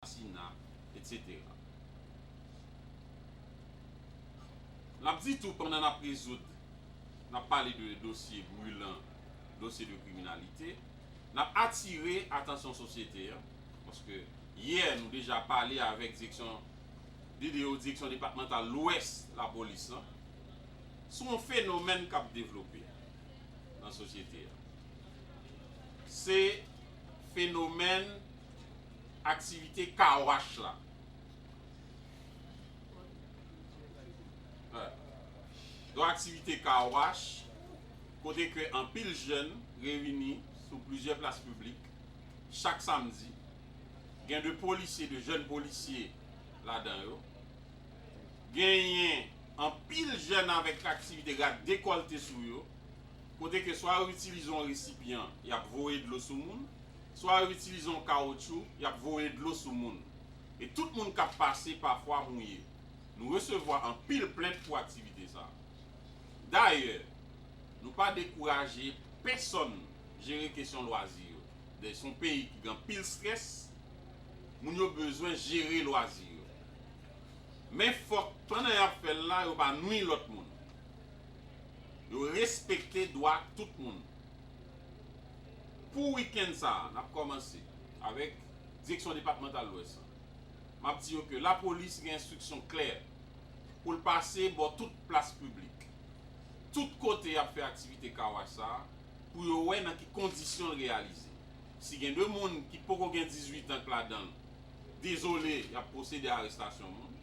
asasina, etc. N ap di tou pandan n ap rezoud, n ap pale de dosye brilan, dosye de kriminalite, n ap atire atansyon sosyete a, paske yè nou deja pale avèk direksyon DDO, Direksyon Depatmantal Lwès Lapolis lan, sou yon fenomèn k ap devlope nan sosyete a. Se fenomèn. aktivite Car Wash la. Yon aktivite Car Wash kote ke anpil jèn reyini sou plizyè plas piblik chak samdi. Gen de polisye, de jèn polisye ladan yo. Genyen anpil jèn avèk aktivite rad dekòlte sou yo kote ke swa yo itilize yon resipyan y ap voye dlo sou moun Swa yo itilize yon kawotchou y ap voye dlo sou moun, e tout moun k ap pase pafwa mouye. Nou resevwa anpil plent pou aktivite sa a. Dayè, nou pa dekouraje pesonn jere kesyon lwazi yo. Dayè, se yon peyi ki gen anpil strès, moun yo bezwen jere lwazi yo. Men fòk pandan y ap fè l la, yo pa nwi lòt moun. Yo respekte dwa tout moun. Pou wikenn sa a, n ap kòmanse avèk Direksyon Depatmantal Lwès lan. M ap di yo ke lapolis gen enstriksyon klè pou l pase bò tout plas piblik, tout kote y ap fè aktivite Car Wash sa a pou yo wè nan ki kondisyon l reyalize. Si gen 2 moun ki poko gen 18 an k ladan l, dezole y ap pwosede a arestasyon moun.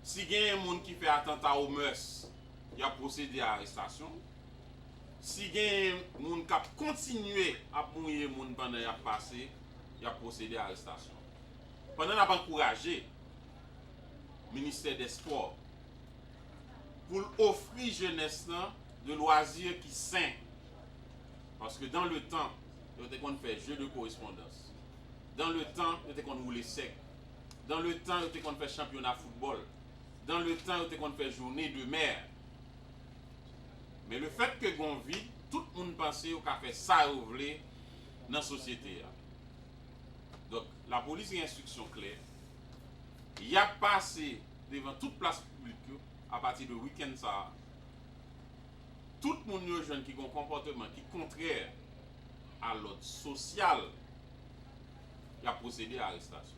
Si genyen moun ki fè atanta o mœurs, y ap pwosede a arestasyon. Si genyen moun kap kontinye ap mouye moun pandan yap pase, yap pwosede arestasyon. Pandan nap ankouraje Ministè dè Spò pou l ofri jenès lan de lwazi ki sen, paske dan le tan yo te konn fè je de korespondans, dan le tan yo te konn woule sèk, dan le tan yo te konn fè chanpyona foutbòl, dan le tan yo te konn fè joune de mè. Men lefèt ke gon vid, tout moun panse yo ka fè sa yo vle nan sosyete a. Donk, lapolis gen enstriksyon klè, y ap pase devan tout plas piblik yo apati de wikenn sa a. Tout moun yo jwenn ki gon konpòteman ki kontrè a lòd sosyal, y ap pwosede a arestasyon.